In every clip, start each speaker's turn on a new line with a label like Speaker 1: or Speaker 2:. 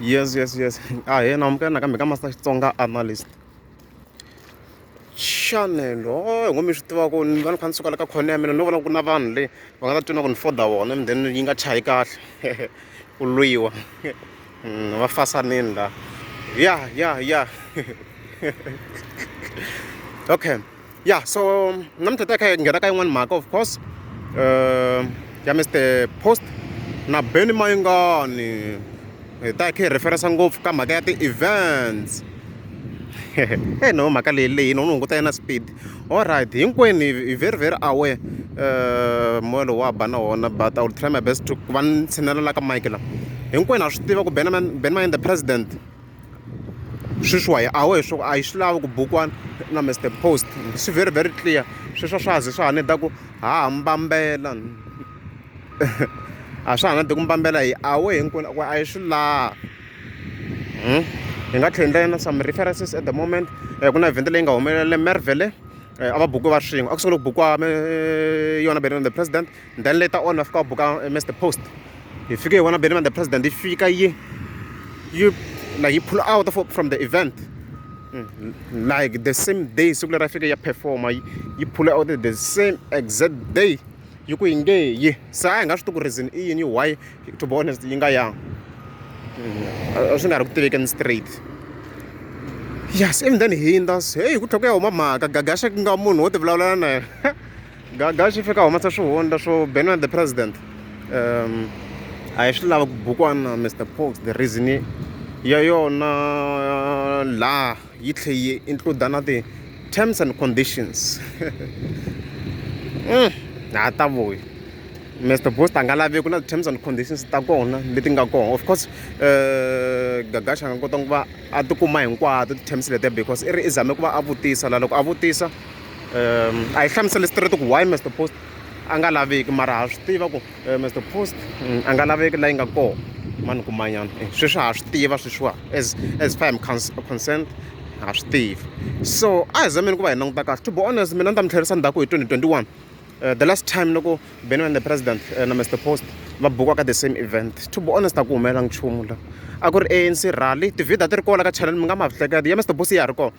Speaker 1: yes yes yes a ah, hi yena amukela nakambe ka master xitsonga analyst channel o oh, ngo mi swi tiva ku ni va ni kha ni suka la ka khone ya mina no vona ku na vanhu le va nga ta twina ku ni foda vona and then yi nga chayi kahle ku lwiwa hmm, va fasanini la ya ya ya okay ya so namuntlha ta kha hi nghena ka yin'wani mhaka of course um ya mister post na beni mayingani hi ta hi kha hi referensa ngopfu ka mhaka ya ti-events e no mhaka leyi leyi no ni hunguta yena speed all right hinkwenu hi very very aware um moya lowu wa ba na wona but i will try my best to ku va ni tshinelelaka mike la hinkwenu ha swi tiva ku ben ben mayini the president sweswiwa hi a wehe swo a yi swi lavi ku bukiwa na Mister Post swi very very clear sweswiwa swa ha ze swa ha need-a ku ha ha mbambela a swa ha na de ku mbambela hi a wehe hinkwenu ku a yi swi laha hi nga tlhela endla na some references at the moment ku na event leyi nga humelela Mervele a va buki va swin'we a ku sungula ku bukiwa yona Benoni the president Then later on va fika va buka eh, Mr Post hi fike hi vona Benjamin the president yi fika yi yi like yi pull out from the event mm, like the same day siku leri a fike ya performa yi pull out the same exact day yi ku yi nge yi se a hi nga swi tiku reason i yini why to be honest yi nga yang mm, a swi nga ri ku tivekeni straight yes even then hindza se heyi ku tlhela ku ya huma mhaka gagaxa ku nga munhu wo ti vulavulela na yena gaga xi fika humesa swihundla swo benwa the president um a hi swi lava ku bukwana mr pox the reason ya yona laha yi tlhe yi includa na ti-terms and conditions mm, ha ta vuyi mr post a nga lavi ku na ti-terms and conditions ta kona leti nga kona of course um gagaxa a nga kota ku va a tikuma hinkwato ti-terms letiya because i ri i zame ku va a vutisa la loko a vutisa a yi hlamusele straight ku why Mister Post a nga laveki mara ha swi tiva ku eh, Mister Post mm, a nga laveki la yi nga kona mani kumanyana eh, sweswi ha swi tiva sweswiwa as as far am concerned ha swi tiva so a hi zameni ku va hi languta kahle to be honest mina ni ta mi tlherisa ndzhaku hi 2021 Uh, the last time loko beni and the president uh, na mr post va bukwa ka the same event to be honest a ku humelela nchumu la a ku ri anc rally tivhida ti ri kola ka channel mi nga ma hleketa ya mr post ya ha ri kona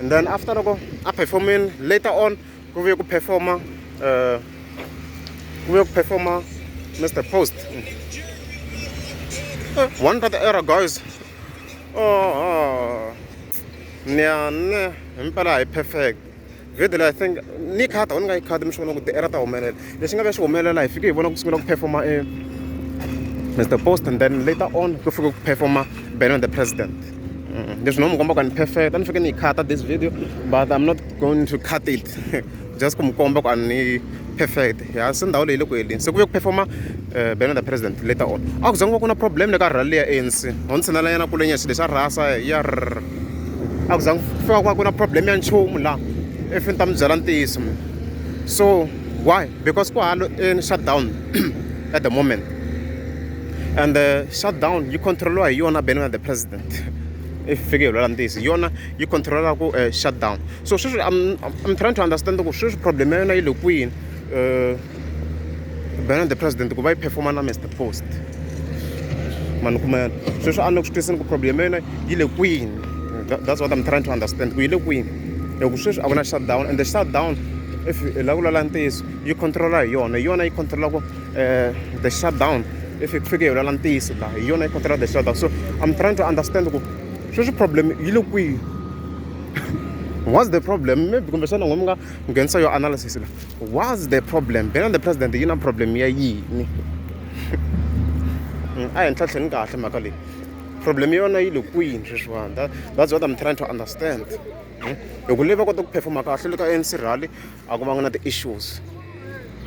Speaker 1: and then after loko a performini later on ku vuye ku performa uh, ku vuye ku performa mr post uh, one brother era guys oh, oh. niyane himpela hi perfect video leyi i think ni khata u ni nga yi khati mi swi vona ku ti era ta humelela lexi nga ka xi humelela hi fike hi vona ku sungula ku performa e mr post and then later on ku fike ku performa benon the president mm, leswi no mi komba ku ni perfect a ni fike ni yi khata this video but i'm not going to cut it just ku mi komba ku a ni perfect ya se ndhawu leyi le ku heleni se ku ve ku performa eh, benon the president later on a ku zangiwa ku na problem le ka rhali ya anc ho ni tshinelanyana kulenya xilo xa rhasa ya a ku zangi fika ku va ku na problem ya nchumu laha if ni ta mi byela ntiyiso mina so why because kwa halo in shutdown at the moment and the uh, shutdown you control hi yona bene the president if fike hi lwela ntiyisi yona yi controla ku uh, shutdown so sweswi I'm, I'm trying to understand ku sweswi problem ya yona yi le kwini uh, bene the president ku va yi performa na mr post mani kuma yona sweswi a ni ku swi twisini ku problem ya yona yi le kwini that's what I'm trying to understand ku yi le kwini hi ku sweswi a ku na shutdown and the shutdown if hi lava ku lala ntiyiso yi controla hi yona hi yona yi controlaka eh, the shutdown if hi ku fike hi lala ntiyiso laha hi yona yi controla the shutdown so i'm trying to understand ku sweswi problem yi le kwihi what's the problem maybe kumbexana n'we mi nga nghenisa yo analysis la what's the problem bena the president yi na problem ya yini mm, a hi ntlhatlheni kahle mhaka leyi problem ya yona yi le kwini sweswiwani that, that's what i'm trying to understand hmm? hi ku leyi va kota ku performa kahle le ka anc rally a ku vanga na ti-issues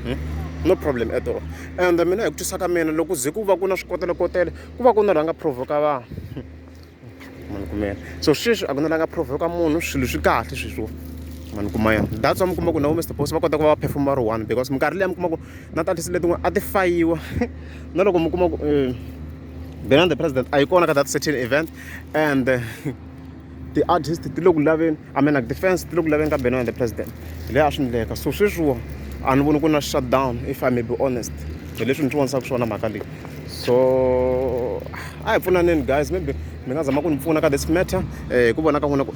Speaker 1: hmm? no problem at all and mina hi ku twisa ka mina loko ze ku va ku na swikotelekotele ku va ku na rhanga provoka vanhu mani kumela so sweswi a ku na rhanga provoka munhu swilo swi kahle sweswiwa mani kuma yona that's wa mi kuma ku na vo mr boss va kota ku va va performa ri one because minkarhi leyi mi kuma ku na tatisi letin'wana a ti fayiwa na loko mi kuma ku um been on the president a yi kona ka that certain event and ti-artist ti le ku laveni i mean like ti-fans ti le ku laveni ka been on the president hi leyi a swi ndleka so sweswiwa a ni voni ku na shutdown if i may be honest hi leswi ni swi vonisaka swona mhaka leyi so a hi pfunaneni guys maybe mi nga zama ku ni pfuna ka this matter um hi ku vona ka n'wina ku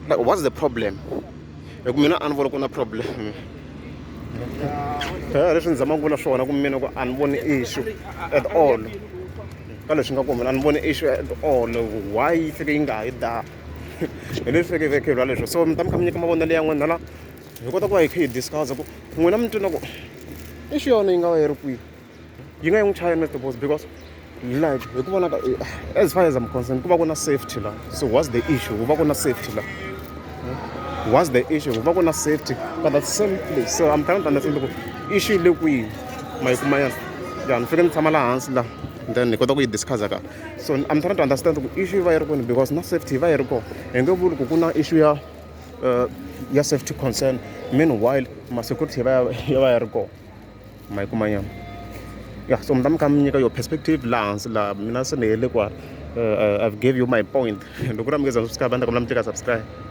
Speaker 1: like what's the problem hi ku mina a ni voni ku na problem eh, leswi ni zamaka vula swona ku mina ku a ni voni issue at all ka leswi nga ku mina a ni voni issue at all why yi fike yi nga ha yi da hi leswi fike vekhelwa leswo so mi ta mi kha mi nyika mavonelo ya n'wina la hi kota ku va hi kha hi discussa ku n'wina mi twina ku issue yona yi nga va yi ri kwihi yi nga yi n'wi chaya na tibozi because like hi ku vona ka as far as i'm concerned ku va ku na safety la so what's the issue ku va ku na safety la hmm? what's the issue ku va ku na safety but at the same place so i'm trying to understand ku issue le kwihi ma yi kuma yana ya ni fike ni tshama laha hansi laha then ni kota ku yi discussa ka so i'm trying to understand ku issue yi va yi ri koni because na safety yi va yi ri kona hi nge vuli ku ku na issue ya uh, ya safety concern meanwhile ma-security ya va ya ri kona ma yi kuma nyana ya so mi ta mi kha mi nyika yo perspective laha hansi laha mina se ni hele ku eh, eh, i've gave you my point loko ku ri a mi nge za mi subscribe a ni ta kombela mi tleka subscribe